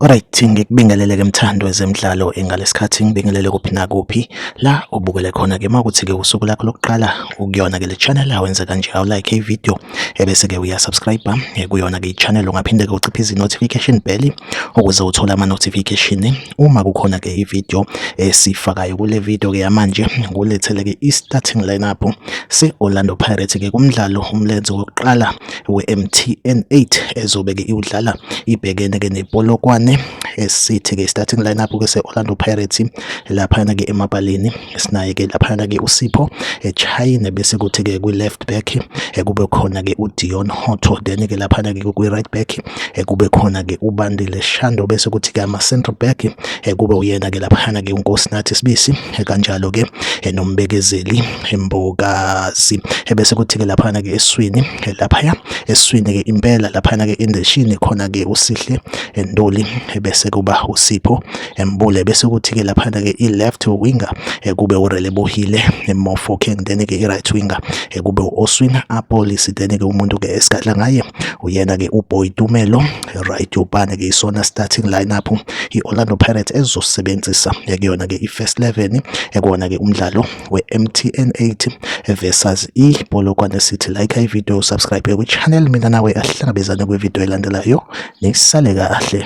Alright ngikubingelele ke mthando wezemidlalo engalesikhathi ngibingelele kuphi nakuphi la ubukele khona ke makuthi ke usuku lakho lokuqala ukuyona ke le channel awenze kanje awu like i video ebese ke uya subscribe eh, kuyona ke channel ungaphinde ke uciphe izi notification bell ukuze uthole ama notification uma kukhona ke ivideo esifakayo eh, kule video ke yamanje ngulethele ke i starting lineup se Orlando Pirates ke kumdlalo umlenze wokuqala we MTN 8 ezobe ke iwudlala ibhekene ke nePolokwane esithi ke starting lineup ke se Orlando Pirates lapha ke emabaleni esinaye ke laphana ke uSipho eChina bese kuthi ke kwi left back ekube khona ke uDion Hotto then ke laphana ke kwi right back ekube khona ke uBandile Shando bese kuthi ke ama central back ekube uyena ke laphana ke uNkosinathi Sibisi kanjalo ke enombekezeli embokazi ebese kuthi ke laphana ke eswini laphaya eswini ke impela laphana ke indeshini khona ke uSihle Ndoli ebese kuba uSipho embule bese kuthi-ke laphana-ke i-left winger eh, kube urelebohile eh, mofokeng then-ke i-right winger eh, kube u-oswin apolisi then-ke umuntu-ke esigadla ngaye uyena-ke uboy tumelo right yobane-ke isona starting lineup i-orlando pirates ezosebenzisa kuyona-ke i-first 11 ekona-ke umdlalo we-mtn 8 versus i-polokwane city like ivideo subscribe kwichannel mina nawe ahlangabezane kwivideo elandelayo nisale kahle